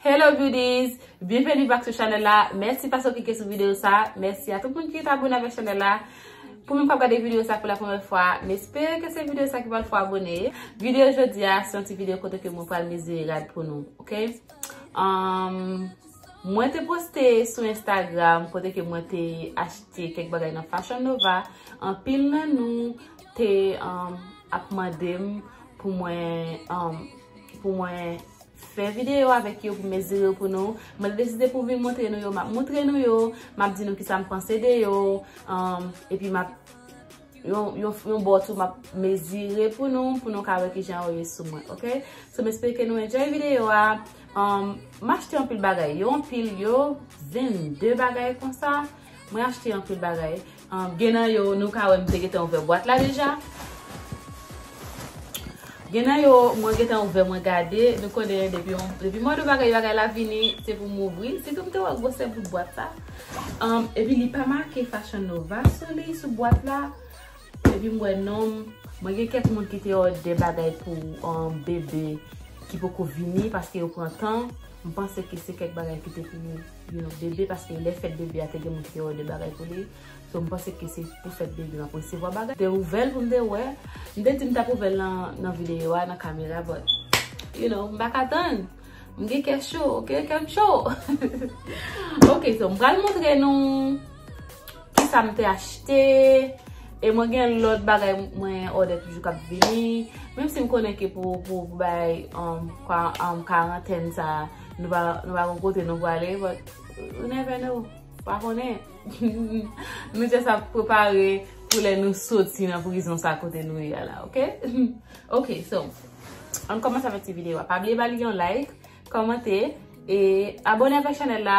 Hello beauties! Byenveni back sou chanèl la. Mèsi paske w klike sou videyo sa. Mèsi a tout moun ki ret abone avèk chanèl la. Pou moun k ap gade videyo sa pou la premyè fwa, m espere ke se videyo sa ki pral fè w abone. Videyo jodi a se yon ti videyo kote ke mwen pral mezire rad pou nou, ok? Mwen te poste sou Instagram kote ke mwen te achte kèk bagay nan Fashion Nova. Anpil nan nou te ap mande m pou mwen... Fè videyo avèk yo pou mezire yo pou nou. Mwen deside pou vin montre nou yo, m ap montre nou yo. M ap di nou ki sa m panse de yo. Epi m ap, yon bò tou, m ap mezire pou nou, pou nou ka wè ki jan yo ye sou mwen. Ok? So m espere ke nou enjoy videyo a. M achte anpil bagay. Yo anpil, yo 22 bagay konsa. Mwen achte anpil bagay. Gen nan yo nou ka wè m te gentan ouvè bwat la deja. Gen nan yo mwen gentan ouvè mwen gade. Nou konnen depi yon, depi mwen wè bagay yon bagay la vini se pou m ouvri. Se tou m te wè gwosè bout bwat la. Epi li pa make Fashion Nova sou li, sou bwat la. Epi m wè nom. Mwen gen kèk moun ki te òde bagay pou bebe ki poko vini paske yo pran tan. M panse ke se kèk bagay ki te pou. you know bebe paske lè fèt bebe a te gen moun ki te òde bagay pou li so m panse ke se pou fèt bebe map resevwa bagay m te ouvèl pou m te wè m te di m tap ouvèl nan videyo a nan kamera but you know m paka tann m gen kè cho ok kèm cho ok so m pral montre nou kisa m te achte e mwen gen lòt bagay mwen òde toujou kap vini menm si m konnen ke pou bay kwa an karantèn sa Nou pa nou pa gon kote nou pwale but you never know pa konnen nou just ap prepare pou lè nou soti nan prizon sa kote nou ye a la ok ok so ann kòmanse avèk ti video a pa bliye ba li yon like kòmante e abone avèk chanèl la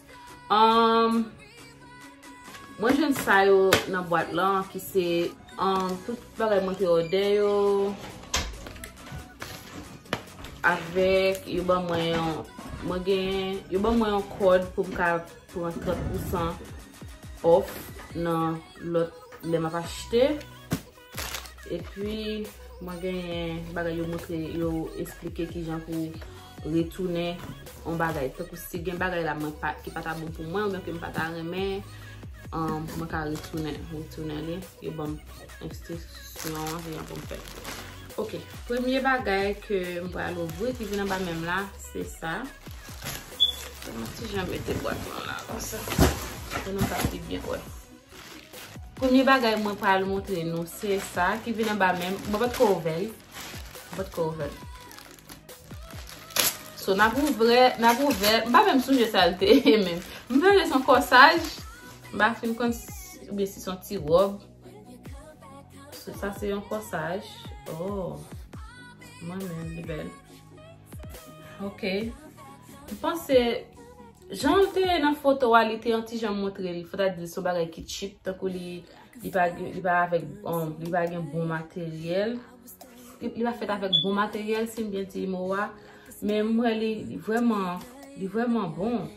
Mwen jwenn sa yo nan bwat lan ki se tout bagay mwen te ode yo. Avèk yo ban mwen yon, mwen gen, yo ban mwen yon kòd pou m ka pran 30% off nan lòt lè m ap achte. Epi mwen genyen bagay yo montre yo esplike ki jan pou retounen yon bagay. Tankou si gen bagay la mwen pa, ki pa ta bon pou mwen, oubyen ke m pa ta renmen, mwen ka retounen, retounen li. Yo banm enstriksyon an, ki jan pou m fè. Ok, premye bagay ke m pral ouvri ki vin anba men m la, se sa. Mwen ti jan mete bwat mwen la, konsa. Pou nou ka pi byen wè. Premye bagay mwen pral montre nou se sa ki vin anba menm. Mwen pa t ko ouvè li. Mwen pa t ko ouvè l. So, n ap ouvè, n ap ouvè. M pa menm sonje sa l te ye menm. M sonje son kòsaj. M pa fin konn si, oubyen si son ti wòb. So, sa se yon kòsaj. Oh! Mwen menm li bèl. Ok. M panse. Jan l te ye nan foto a li te yon ti jan montre l fò ta di l se yon bagay ki tchip tankou li li pa gen li pa avèk bon li pa gen bon materyèl li pa fèt avèk bon materyèl si m byen di mo a men m wè li vrèman li vrèman bon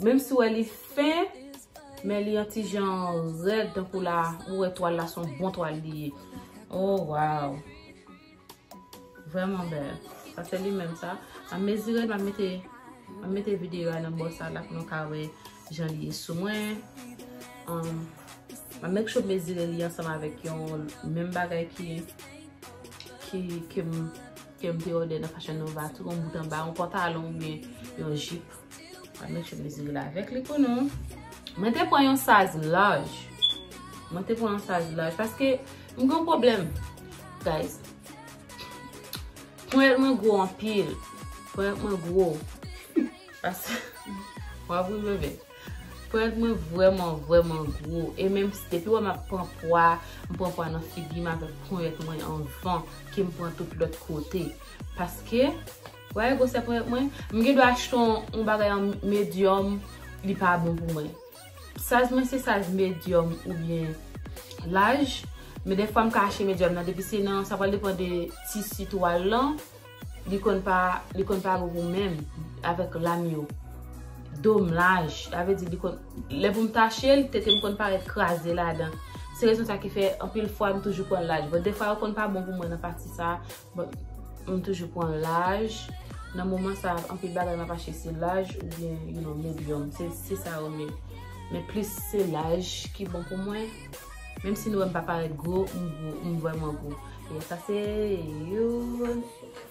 menm si w wè li fen men li yon ti jan rèd tankou la ou wè twal la se yon bon twal li ye o waw. Vreman bel. Sa se li menm sa. Map mezire map mete map mete video a nan bò sa la pou nou ka wè jan li ye sou mwen. Map make sure mezire li ansanm avèk yon menm bagay ki ki kem kem te òdè nan Fashion Nova tou yon bout anba yon pantalon oubyen yon jip. An nou che mezi l avèk li pou nou. Mwen te pran yon saz laj. Mwen te pran yon saz laj. Paske mwen gen yon problem. Guys. Ponyèt mwen gwo anpil. Ponyèt mwen gwo. Paske. Mwen ap rive vè. Ponyèt mwen vwèman vwèman gwo. E menm si depi wè mwen pran pwa. Mwen pran pwa nan figi mwen avèk ponyèt mwen anvan. Ke mwen pran tout lòt kote. Paske. Wè gwosè ponyèt mwen, m gen dwa achte yon bagay an medyòm li pa bon pou mwen. Size mwen se size medyòm oubyen laj, men defwa m ka achte medyòm nan depi se nan, sa pral depan de tisi twal lan, li konn pa, li konn pa bon pou m menm avèk lam yo. Do m laj, sa vle di li konn, lè pou m tache l, tete m konn parèt kraze ladan. Se rezon sa ki fè anpil fwa m toujou pran laj, bon defwa yo konn pa bon pou mwen nan pati sa, M toujou pran laj. Nan moman sa anpil bagay map achte se laj ou byen you know medium. Se sa yo men. Men plis se laj ki bon pou mwen. Menm si nou wè m pa parèt gwo, m gwo. M vrèman gwo. Bon sa se youn.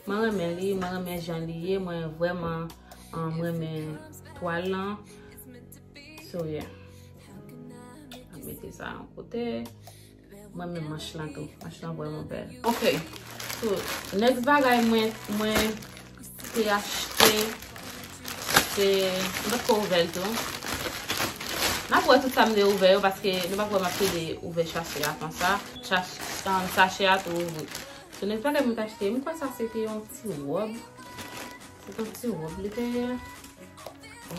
Mwen renmen li. Mwen renmen jan li ye. Mwen vrèman renmen twal lan. So yeah. Mete sa an kote. Mwen menm manch lan tou. Manch lan vreman bel. Ok. So, next bagay mwen mwen te achte se m pa t ko ouvè l tou. M ap wè tout sa m te ouvè yo paske nou pa kwè m ap pede ouvè chache a konsa. Chache a tou ouvri. So, next bagay mwen te achte, m kwè sa se te yon ti rob. Se ton ti rob li te ye.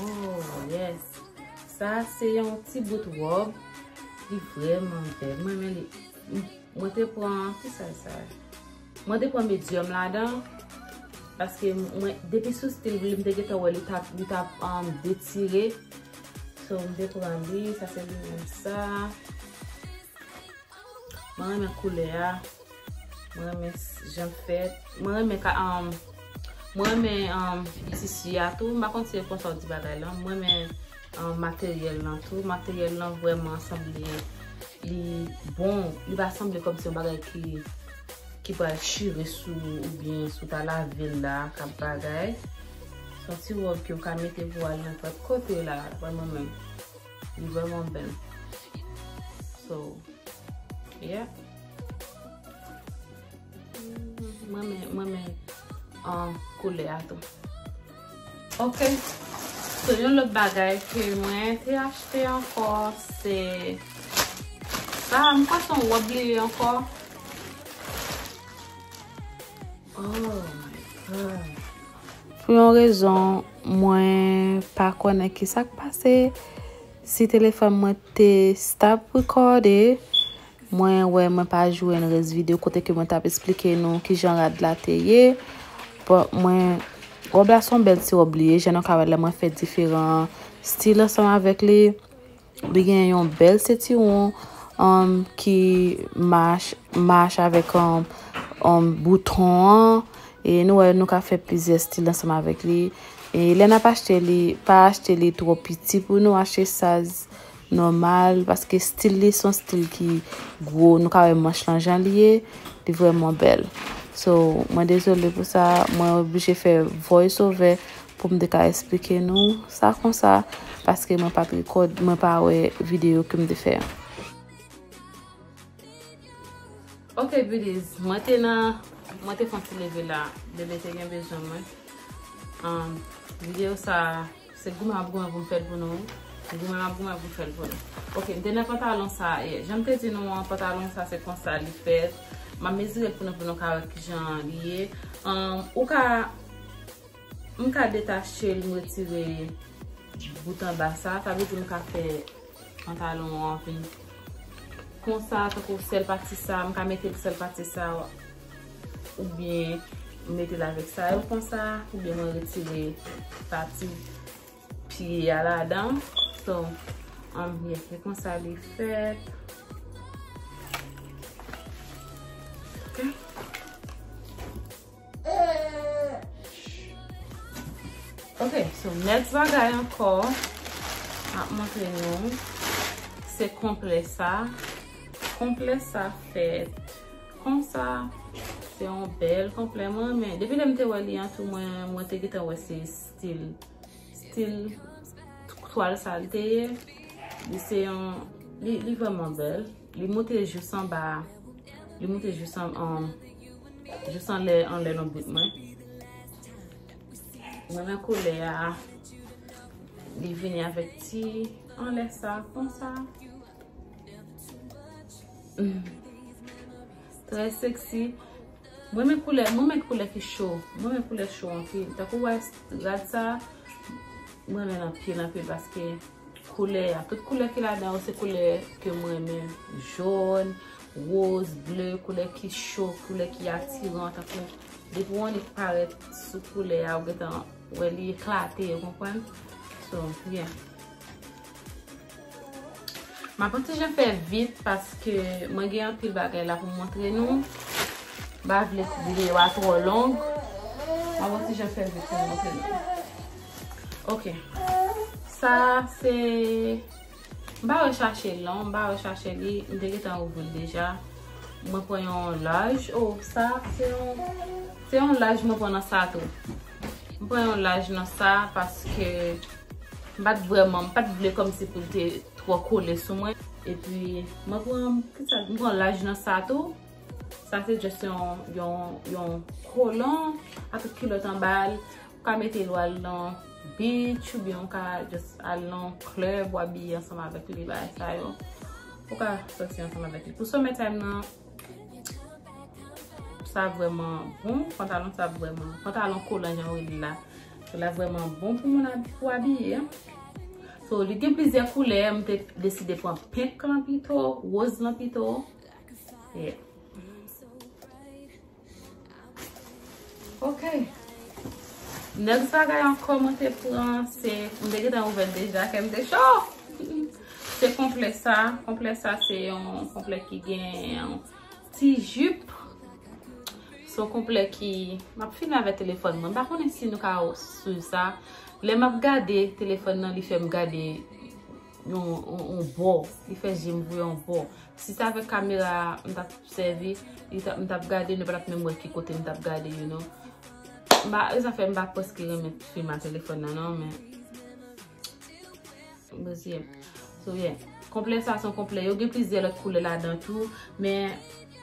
Oh yes. Sa se yon ti bout rob. Li vreman bel. Mwen men li. Mwen te pran. Ki sa sa? Mwen te pran medium la dan. Paske mwen. Depi sou stil li. Mwen te gete wè li tap. Li tap an detire. So mwen te pran li. Sa se li mwen sa. Mwen renmen koulè a. Mwen renmen jan l fèt. Mwen renmen ka anm. Mwen renmen anm tisi a tou. M pa konn si e konsa ou di bagay lan. Mwen renmen anm materyèl lan tou. Materyèl lan vwèman sanble li bon. Li pa sanble kòm se yon bagay ki ki pral chire sou ou ou byen sou ta lave l la ak ap bagay. S on ti wòb ki ou ka mete pou al nenpòt kote la dapre mwen menm. Li vreman bel. So, yeah. Mwen men, mwen men an koule ato. Ok. So, yon lop bagay ke mwen te achte anko se sa. Mwen kwa son wap li anko. Pou yon rezon mwen pa konnen ki sa k pase, si telefòn mwen te stop rekòde, mwen wè mwen pa jwenn rès videyo kote ke mwen t ap esplike nou ki jan rad la te ye. Bon, mwen, wòb la se yon bèl ti wòb li ye, jan nou ka wè l la mwen fè diferan stil ansanm avèk li. Li gen yon bèl sentiwon ki mach avèk bouton an. E nou wè nou ka fè plizyè stil ansanm avèk li. E lè nap achte li, pa achte li twò piti pou nou. Achte saiz nòmal. Paske stil li son stil ki gwo. Nou ka wè manch lan jan li ye. Li vreman bèl. So, mwen dezole pou sa. Mwen oblije fè voice over. Pou m te ka esplike nou sa konsa paske mwen pa t rekòd, mwen pa wè videyo ke m te fè an. Ok beauties, mwen te nan, mwen te fon ti leve la, bebe te gen bezwen mwen. Videyo sa a, se goumen ap goumen pou m fè l pou nou wi. Se goumen ap goumen pou m fè l pou nou. Ok, m te nan pantalon sa a yè. Jan m te di nou an, pantalon sa a se konsa li fèt. M ap mezire l pou nou pou nou ka wè kijan li ye. Ou ka. M ka detachel m retire bout anba sa, sa vle di m ka fè pantalon an vin konsa tankou sèl pati sa m ka metel sèl pati sa oubyen m metel avèk sa yo konsa oubyen mwen retire pati pye a ladan so anbyen se konsa li fèt ok Ok, so next bagay ankò map montre nou se konplè sa. Konplè sa fèt konsa. Se yon bèl konplè mwen renmen. Depi lèm te wè li an tou mwen te gentan wè se stil stil twal sa li te ye. Li se yon li vreman bèl. Li moute jous anba, li moute jous anlè anlè lonbrit mwen. Mwen nan kolè a, li vini avèk ti anlè sa, kon sa. Trè seksi. Mwen men koulè, mwen men koulè ki chou. Mwen men koulè chou anpil. Takou wè rad sa, mwen men anpil anpil paske. Koulè ya. Tout koulè ki ladan yo se koulè ke m renmen. Jòn, woz, ble, koulè ki cho, koulè ki atiran. Tankou depi yon nik parèt sou koulè ya ou gentan wè li eklate, ou konprann? So, yeah. M ap antijan fè vit paske mwen gen anpil bagay la pou m montre nou. M pa vle videyo a twò long. M ap antijan fè vit pou m montre nou. Ok. Sa se... M pa rechache l non. M pa rechache li. M te gentan ouvri l deja. Mwen pran yon laj. Oh, sa se yon... Se yon laj mwen pran nan sa tou. M pran yon laj nan sa paske... M pa t vreman... M pa t vle kòm si pou l te twò kole sou mwen. E pi, mwen pran... Ki sa? M pran laj nan sa tou. Sa se just yon... Yon kolon. Ak kilòt anba l. Ou ka mete l ou al nan beach ou byen ou ka just al nan club ou abiye ansanm avèk li bagay sa yo. Ou ka soti ansanm avèk li. Pou summer time nan, sa vrèman bon. Pantalon sa vrèman, pantalon kolan jan yo rele l la. L la vrèman bon pou moun pou abiye. So, li gen plizyè koulè, m te deside pran pink lan pito, rose lan pito. Yeah. Ok. Next bagay ankò mwen te pran se, mwen te gentan ouvè l deja kè m te cho! Se konplè sa. Konplè sa se yon konplè ki gen ti jip. Se yon konplè ki, m ap fini avè telefòn mwen. M pa konnen si nou ka swiv sa. Lè m ap gade telefòn nan li fè m gade. yon bò, li fè je m vwe yon bò. Si ta vek kamera a, m tap sèvi, m tap gade, nou pa tap menm wè ki kote m tap gade you know. M ba, e zafè m ba pweske renmen film a telefon nan non men. M bwè si yè. So yè. Konplè sa son konplè. Yo gen plizyè lòt koulè la dan tou. Men,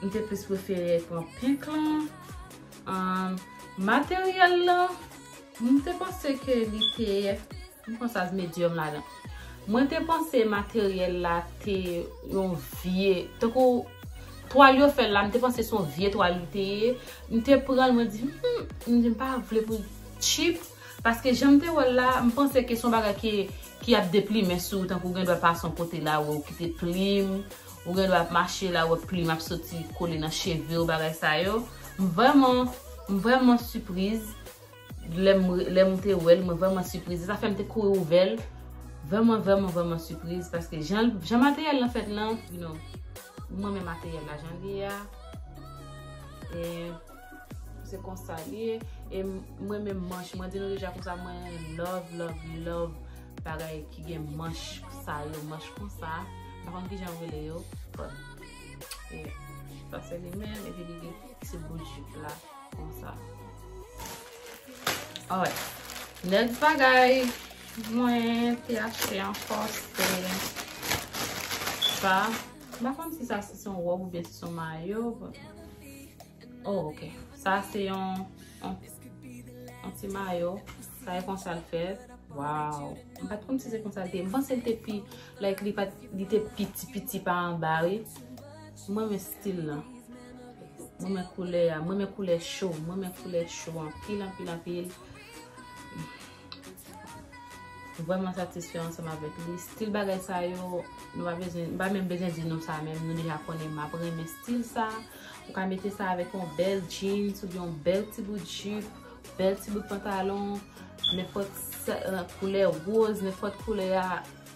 m te plis pwefere pran pink lan. Materyèl lan, m te panse ke li te. M pran saz medium ladan. Mwen te panse materyèl la te yon vye, tankou twal yo fèl la, m te panse se yon vye twal li te ye, m te pranl mwen di humm, m di m pa vle pou l tchip, paske jan m te wèl la, m panse ke se yon bagay ke ki ap deplimen sou ou tankou gen dwa pase yon kote la wè ou kite plim, ou gen dwa ap mache la wè plim ap soti kole nan cheve ou bagay sa yo, m vrèman, m vrèman sipriz. Lè m te wè l, mwen vrèman sipriz. Sa fè m te kouri ouvè l. Vrèman, vrèman, vrèman sipriz. Paske jan materyèl lan fèt lan, you know, m renmen materyèl la jan li a. E, se konsa li ye. E m renmen manch. Mwen di nou deja konsa mwen love, love, love bagay ki gen manch sa yo. Manch konsa. Mwen konn ki jan yo rele yo. Bon. E, sa se li men. E pi li gen ti bout jip la. Konsa. Alright. Next bagay mwen te achte an fòs te sa. Mwen konn si sa se son wòb ou bè se son mayo. Oh, ok. Sa se yon yon ti mayo. Sa e konsa l fèt. Waw. Mwen pat konn si se konsa l te. Mwen panse l te pi like li pat li te piti piti pa anba wi. M renmen stil lan. M renmen koulè a. M renmen koulè cho. M renmen koulè cho anpil anpil anpil. M vreman satisfè ansanm avèk li. Stil bagay sa yo, m pa menm bezwen di nou sa menm. Nou deja konnen m ap renmen stil sa. Ou ka mete sa avèk yon bèl jeans oubyen yon bèl ti bout jip, bèl ti bout pantalon, nenpòt koulè rose, nenpòt koulè a.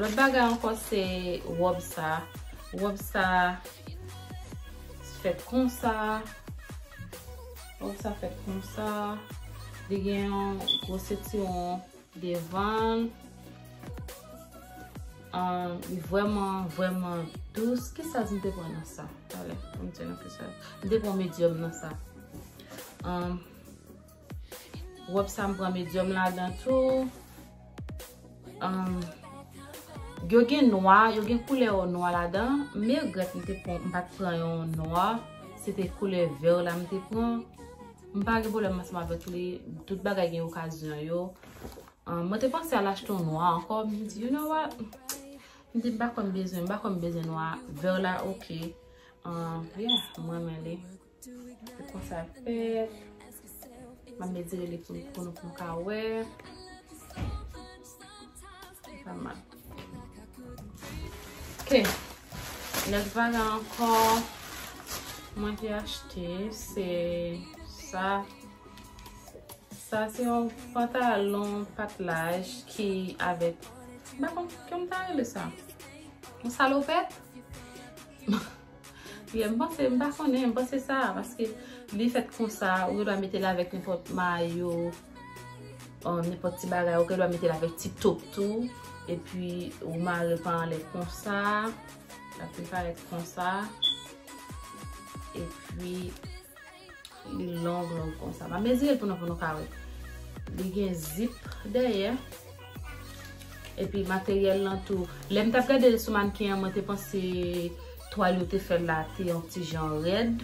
Lòt bagay ankò se wòb sa. Wòb sa fèt konsa. Wòb sa fèt konsa. Li gen yon gwo sentiwon devan. Li vwèman, vwèman dous. Ki saj m te pran nan sa? Talè, m te pran medium nan sa. Rob sa m pran medium ladan tou. Yo gen nwa, yo gen koulè ou nwa ladan. Me regret m te pran, m pat pran yon nwa. Se te koulè vert la m te pran. M pa gen problem ansanm avèk li. Tout bagay gen okazyon yo. Mwen te panse al achte yon nwa ankò. M di you know what? M di m pa kwè m bezwen, m pa kwè m bezwen nwa. Vert la ok. Yeah, m renmen li. Se konsa l fèt. M ap etire li pou nou pou nou ka wè. Sa mal. Ok. Lòt bagay ankò mwen te achte se sa. Sa se yon pantalon patlaj ki avèk. M pa konn kòm ta rele sa. Yon salopèt. Priye m panse m pa konnen m panse sa paske li fèt konsa ou gen dwa mete l avèk nenpòt mayo nenpòt ti bagay ou gen dwa mete l avèk ti top tou epi ou mare l pa anlè konsa l ap vin parèt konsa epi Li long long konsa. Ma mezire l pou nou pou nou ka wè. Li gen zip dèyè. Epi materyèl lan tou. Lè m tap gade l sou mannequin an mwen te panse twal yo te fè la te yon ti jan rèd.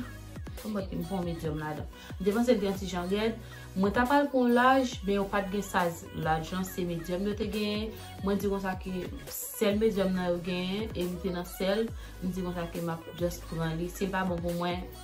Pou mwen te m pran yon medium ladan. M te panse l te yon ti jan rèd. Mwen ta pral pran yon laj men yo pat gen saz laj lan se medium yo te genyen. Mwen di konsa ke sèl medium nan yo genyen e li te nan sèl. M di konsa ke map just pran li. Si l pa bon pou mwen.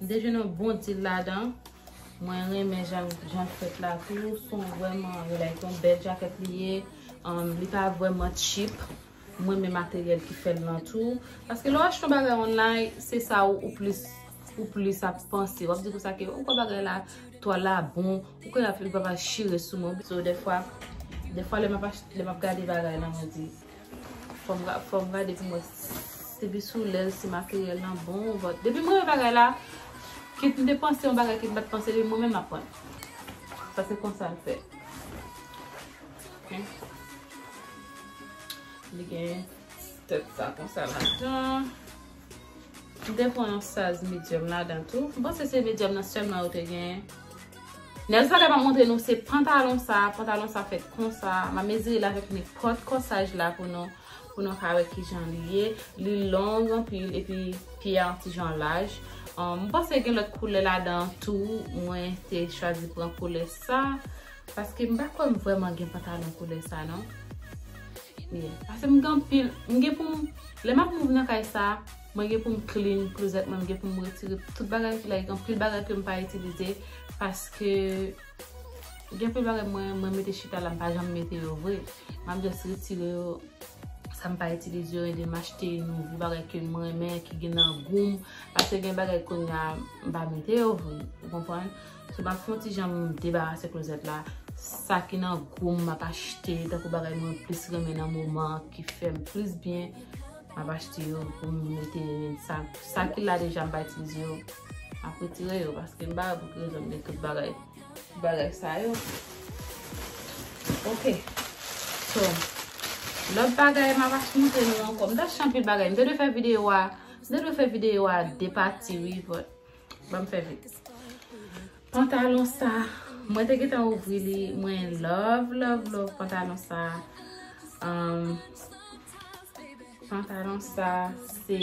M te jwenn yon bon dil ladan. Mwen renmen jan l fèt la tou. Son vrèman relax. Son bèl jakèt li ye. Li pa vrèman cheap. M renmen materyèl ki fè l lan tou. Paske lè w achte yon bagay online, se sa ou plis ou plis ap panse. W ap di pou sa ke ou kwè bagay la, twal la bon. Ou kwè li pa pral chire sou mwen. So dèfwa, dèfwa lè m ap achte, lè m ap gade bagay lan, mwen di. Fòm gade pou mwen Depi sou lèl si materyèl lan bon Depi mwen yon bagay la Kit m te panse yon bagay kit m pat panse li mwen menm map prann Sa se konsa l fèt Li gen Tèt sa konsa ladan M te pran yon size medium ladan tou. M panse se medium nan selman yo te genyen. Nèlsa te pa montre nou se pantalon sa, pantalon sa fèt konsa. M ap mezire l avèk nenpòt kòsaj la pou nou, pou nou ka wè kijan li ye. Li long anpil epi pye a yon ti jan laj. M panse gen lòt koulè ladan tou, mwen te chwazi pran koulè sa. Paske m pa kwè m vrèman gen pantalon koulè sa non. Yeah. Paske m gen anpil, m gen pou m, lè m ap move nan kay sa, mwen gen pou m clean closet mwen, m gen pou m retire tout bagay ki la, gen anpil bagay ke m pa itilize, paske gen anpil bagay mwen, mwen mete chita la m pa janm mete yo vre. M ap just retire yo, sa m pa itilize yo, epi m achte nouvo bagay ke m renmen, ki gen nan gou m, paske gen bagay kounye a, m pa mete yo vre. Ou konprann? So map fon ti jan debarase klozèt la. Sa ki nan gou m map achte. Tankou bagay mwen plis renmen nan moman an ki fè m plis byen. Map achte yo pou m mete sa. Sa ki la deja m pa itilize yo. Map retire yo paske m pa wè pou ki rezon m gen tout bagay. Bagay sa yo. Ok. So. Lòt bagay map achte m te nou ankò. M ta achte anpil bagay. M te dwe fè videyo a. M te dwe fè videyo a de pati wi. Banm fè vit. Pantalon sa. Mwen te gentan ouvri li. Mwen love love love pantalon sa. Pantalon sa. Se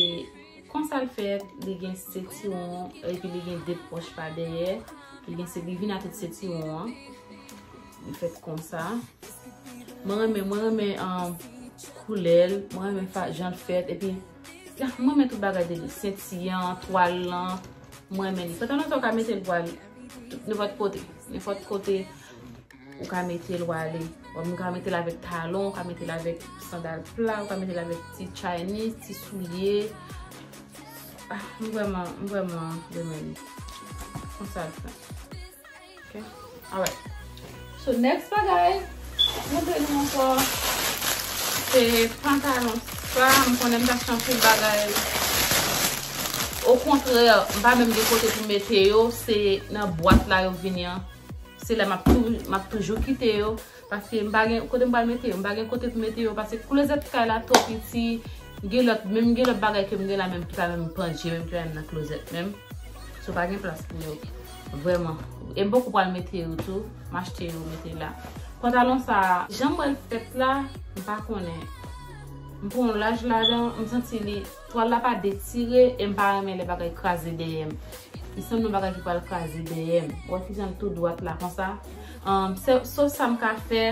konsal fèt. Li gen setiron. E pi li gen de poch pa dèyè. Li gen setiron. Li vin a tout setiron. Li fèt konsa. Mwen renmen. Mwen renmen koulèl. Mwen renmen jan l fèt. E pi. Mwen renmen tout bagay de li. Senti an, twal lan. Mwen renmen li. Pantalon sa ou ka mete l pou ale. Nenpòt kote. Nenpòt kote ou ka mete l ou ale. Ou ka mete l avèk talon. Ou ka mete l avèk sandal pla. Ou ka mete l avèk ti chaynis, ti soulye. Mwen renmen li. Mwen renmen li. Mwen sa l fè. So next bagay, mwen te nou anko, se pantalon sa, mwen konnen mwen achte anpil bagay, o kontrè, mwen pa menm gen kote pou mete yo, se nan bwat la yo vini an, se la mwen ap toujou kite yo. Paske m pa gen kote m pral mete yo. M pa gen kote pou m mete yo paske klozèt kay la twò piti. Gen lòt, menm gen lòt bagay ke m gen la menm ki pa menm pandje menm ki pa menm nan klozèt menm. So pa gen plas pou yo. Vrèman. E m poko pral mete yo tou. M achte yo mete la. Pantalon sa a, jan m wè l fèt la, m pa konnen. M pran yon laj ladan, m santi li. Twal la pa detire e m pa renmen lè bagay kraze dèyè m. Li sanble yon bagay ki pral kraze dèyè m. Wè kijan l tou dwat la konsa. Sèl sa m ka fè,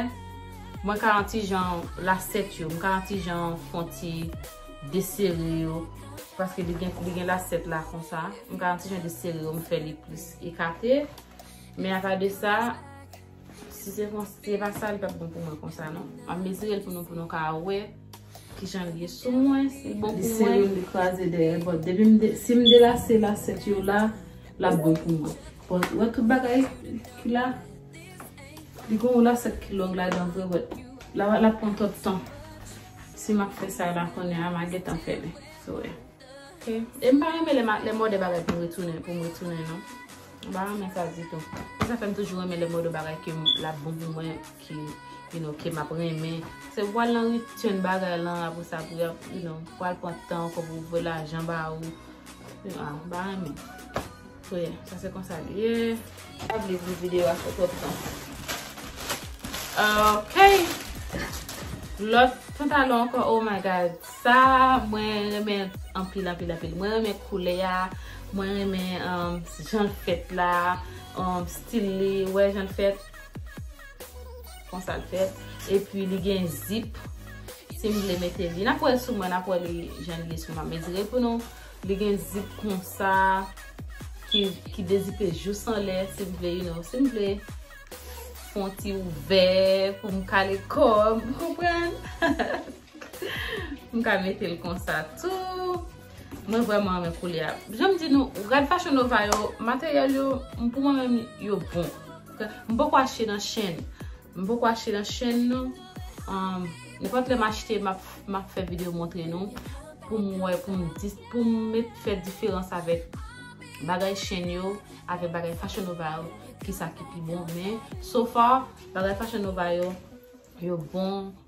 mwen ka yon ti jan lasèt yo. M ka yon ti jan fè yon ti desere yo. Paske li gen lasèt la konsa. M ka yon ti jan desere yo, m fè li plis ekate. Men apa de sa, si se pa sa li pap bon pou mwen konsa non. M ap mezire l pou nou ka wè. Kijan l ye sou mwen, li bon pou mwen. Li sere m li kraze dèyè but depi m de si m delase lasèt yo la l ap bon pou mwen. Bon ou wè tout bagay ki la li gen yon lasèt ki long ladan vre but la l ap pran twòp tan si m ap fè sa la kounye a m a gentan fè li sou wè. Ok e m pa renmen lè m òdè bagay pou m retounen pou m retounen non m pa renmen sa ditou se sa fè m toujou renmen lè m òdè bagay ke l ap bon pou mwen. ki you know ke map renmen se ou pral nan return bagay lan apre sa pou yap you know pral pran tan ou fò pou voye lajan ba ou you know ah ba renmen so yeah sa se konsa li ye pa vle di video a fè twòp tan ok lòt pantalon ankò oh my god sa mwen renmen anpil anpil anpil mwen renmen koulè a mwen renmen um jan l fèt la um stil li wè jan l fèt Konsal fèt. E pi li gen zip. Si m vle mete li. Nap wè l sou mwen. Nap wè li jan li ye sou mwen. Mezire pou nou. Li gen zip konsa. Ki dezipe jous anlè. Si m vle you know. Si m vle. Fon ti ouvè. Pou m kale kòm. Konprann. M ka mete l konsa tou. Mwen vreman renmen koulè a. Janm di nou, rad Fashion Nova yo, materyèl yo, pou mwen menm yo bon. M poko achte nan chèn. M poko achte nan chèn non. Nenpòt lè m achte, m ap fè videyo montre nou. Pou m wè, pou m met fè diferans avèk bagay chèn yo, avèk bagay Fashion Nova yo, ki sa ki pi bon. Men, so far, bagay Fashion Nova yo, yo bon.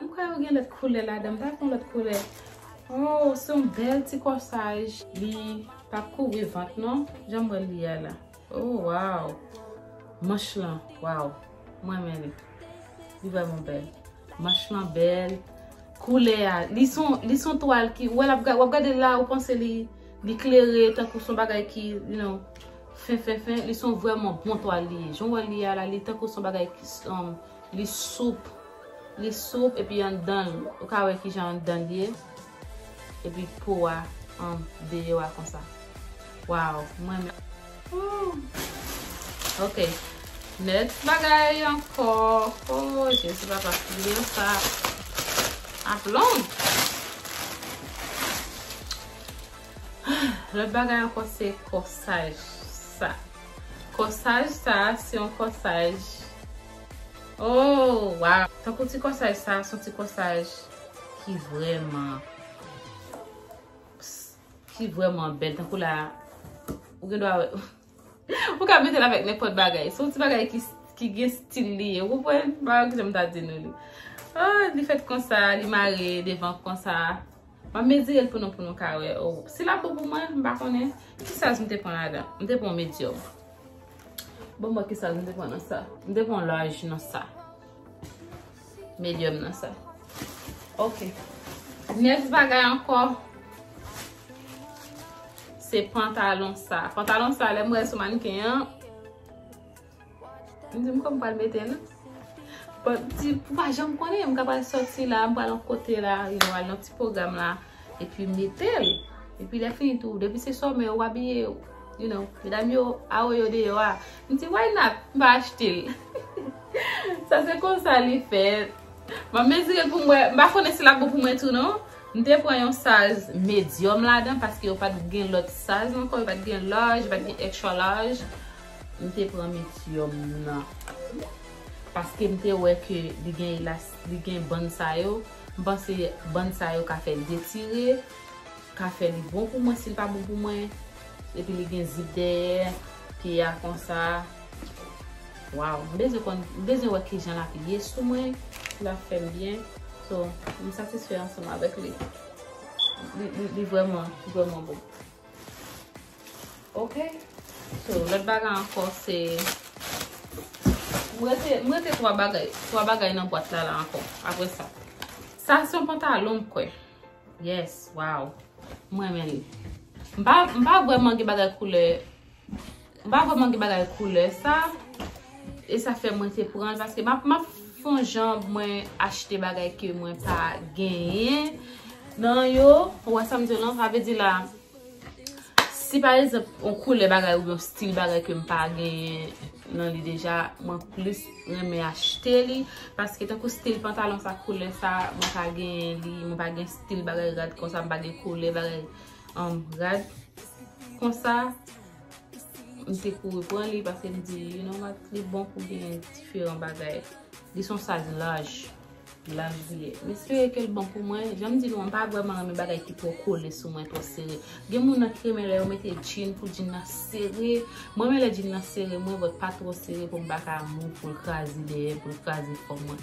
M kwè yo gen lòt koulè ladan m pa konn lòt koulè. Ohh se yon bèl ti kòsaj. Li pa kouvri vant non janm wèl li a la oh waw manch lan waw m renmen li li vrèman bèl manch lan bèl koulè a li son li son twal ki ou wèl ap wap gadel la ou panse li li klere tankou son bagay ki you know fen fen fen li son vrèman bon twal li ye jan w wèl li a la li tankou son bagay ki son Li soup. Li soup epi anndan l, ou ka wè kijan anndan l ye. Epi po a an deyò a konsa. Waww, m renmen. Ooh! Ok. Nèt bagay ankò. Ooh Jezi papa, griyon sa ap long. Lòt bagay ankò se kòsaj sa. Kòsaj sa se yon kòsaj ooh waw tankou ti kòsaj sa son ti kòsaj ki vrèman ki vrèman bèl tankou la ou gen dwa wè ou ka metel avèk nenpòt bagay son ti bagay ki gen stil li ou konprann bagay ki janm ta di nou li ooh li fèt konsa li mare devan konsa. Map mezirel pou nou pou nou ka wè ou. Si lap bon pou mwen, m pa konnen. Ki size m te pran ladan? M te pran medium. Bon m wè ki size m te pran nan sa. M te pran large nan sa. Medium nan sa. Ok. Next bagay anko. Se pantalon sa. Pantalon sa lè m wè l sou mannequin an. M di m kòm pral mete l. Bon, di ou pa janm konnen, m ka pral sòti la, m pral yon kote la, you know, al nan ti pwogram la, epi m mete l. Epi lè fini tou, depi se sòmè ou abiye ou, you know, medam yo a wè yo deyò a. M di why not, m va achte l. Sa se konsa li fèt. M ap mezire pou m wè, m pa konnen si l ap bon pou mwen tou non. M te pran yon size medium ladan paske yo pa t gen lòt size ankò, yo pa t gen large, yo pa t gen extra large. M te pran metyòm nan. Paske m te wè ke li gen elas, li gen bann sa yo. M panse bann sa yo ka fè l detire, ka fè li bon pou mwen si l pa bon pou mwen. Epi li gen zip dèyè pye a konsa. Waw! M bezwen konn, m bezwen wè ki jan l ap ye sou mwen, si l ap fè m byen. So, m satisfè ansanm avèk li. Li vrèman, li vrèman bon. Ok So lòt bagay ankò se M rete 3 bagay 3 bagay nan bwat la la ankò Apre sa Sa se yon pantalon m kwè Yes Waw M renmen li M pa vwèman gen bagay koulè M pa vreman gen bagay koulè sa. E sa fè mwen te pran l. Paske m ap fon jan mwen achte bagay ke mwen pa genyen. Nan yo, ou wè sa m di w lan. Sa vle di la, si pa egzanp yon koulè bagay oubyen yon stil bagay ke m pa genyen nan li deja. Mwen plis renmen achte li. Paske tankou stil pantalon sa, koulè sa, mwen pa genyen li. Mwen pa gen stil bagay rad konsa. M pa gen koulè bagay. um, rad. Konsa, m te kouri pran li pase m di, you know what, li bon pou gen diferan bagay. Li son saj laj, laj li ye. M espere ke l bon pou mwen. Jan m di nou an, m pa vreman renmen bagay ki twò kole sou mwen, twò sere. Gen moun nan ki renmen lè yo mete djin pou djin nan sere. Mwen renmen lè djin nan sere mwen, but pa twò sere pou m pa ka mou, pou l kraze dèyè, pou l kraze kò mwen.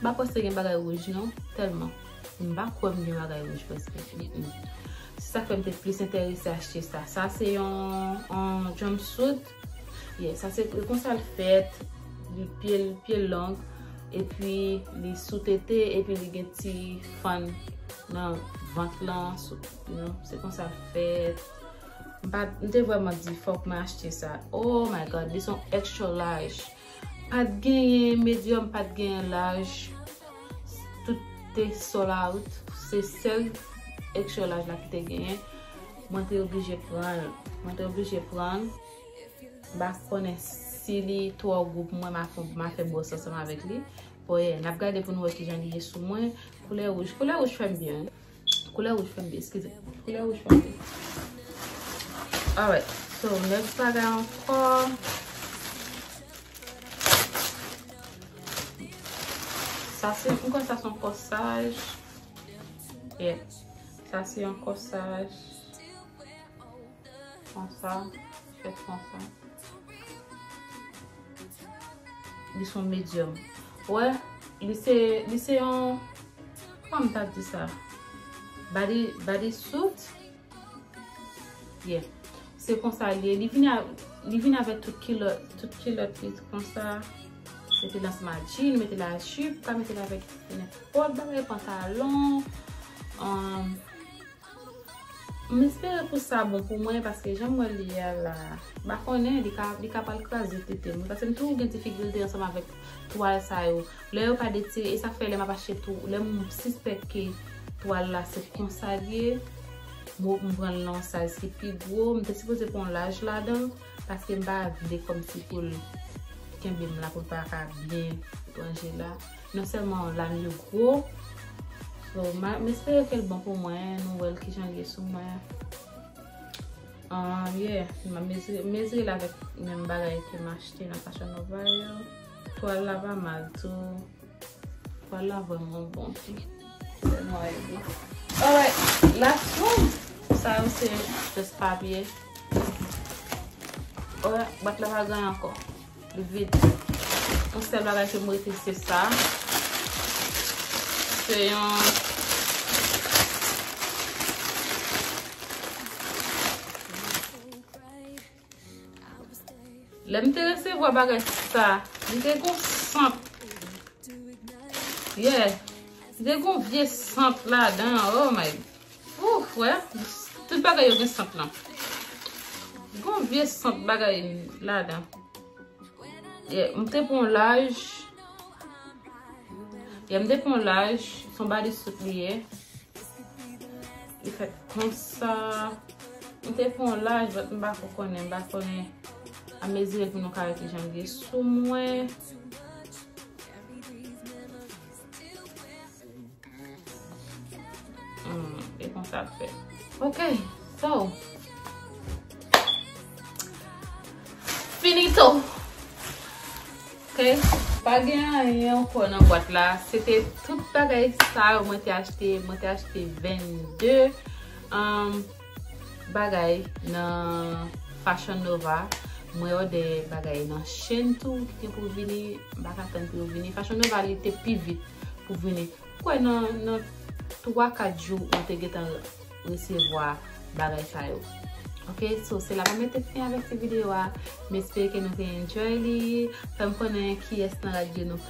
M pa panse gen bagay wouj non, tèlman m pa kwè m gen bagay wouj prèske. Se sa k fè m te plis enterese achte sa. Sa se yon jumpsuit. Ye, sa se pou konsa l fèt. Li pye l, pye l long. Epi li sou tete, epi li gen ti fann nan vant lan. Se konsa l fèt. M te vrèman di fòk mwen achte sa. Oh my God! Li son extra large. Pat genyen medium pat genyen laj tout te sold out se sèl extra laj la ki te genyen mwen te oblije pranl mwen te oblije pranl mpa konnen si li twò gou pou mwen ma fè bòs ansanm avèk li bò yè nap gade pou nou wè kijan li ye sou mwen koulè wouj koulè wouj fèm byen wi. Koulè wouj fèm di, eskize. Koulè wouj fèm di. Alright, so next bagay ankò. Sa se, mwen kwen sa se yon kòsaj. Yeah. Sa se yon kòsaj. Konsa, fèt konsa. Li son medium. Wè, li se, li se yon, kwa m ta di sa? Body, body suit? Yeah. Se konsa li e. Li vini a, li vini avèk tout kilòt, tout kilòt li konsa. Se te dans ma jean, nou mete la jupe, ka mete la avèk nenpòt bagay, pantalon. Amm. M espere pou sa bon pou mwen paske janm wè li a la m pa konnen li ka li ka pral kraze tete m wi paske m toujou gen difikilte ansanm avèk twal sa yo lè yo pa detire e sa k fè lè m ap achte tou lè m sispèk ke twal la se konsa l ye m o m pran l nan yon size ki pi gwo m te sipoze pran yon laj ladan l paske m pa vle kòmsi pou l kenbe m la pou l pa ka byen ranje la. Non selman lam yo gwo. So m espere kel bon pou mwen. Nou wel kijan l ye sou mwen. Ahh yeah. M mezire l avek menm bagay ke m achte nan Fashion Nova yo. Twal la pa mal tou. Twal la vreman bon tou. Selman yo gwo. Alright. Last one. Sa yo se just papye. Alright. Bwat la pa gran anko. Li vide. Yon sèl bagay ke m rete se sa. Se yon... Lè m te resevwa bagay sa, li te gon sant. Yeah. Li te gon vye sant ladan. Oh my God. Ouff wè tout bagay yo gen sant lan. Gon vye sant bagay ladan. Ye m te pran laj. Ye m te pran laj. Son body soup li ye. Li fèt konsa. M te pran laj but m bako konnen. M bako konnen. A mezi pou nou ka wè kijan li ye sou mwen. E kon sa fè. Ok. So. Finito. Ok. Pa gen an yon yon kò nan bwat la. Se te tout bagay sa yo mwen te achte. Mwen te achte 22. bagay nan Fashion Nova Mwen òdè bagay nan Shein tou ki gen pou vini M pa ka tann pou yo vini Fashion Nova li te pi vit pou vini M kwè nan 3 4 jou mwen te gentan resevwa bagay sa yo Ok So se la mwen mete fen avèk ti videyo a M espere ke nou te enjoy li Fè m konnen kiyès nan radyo nou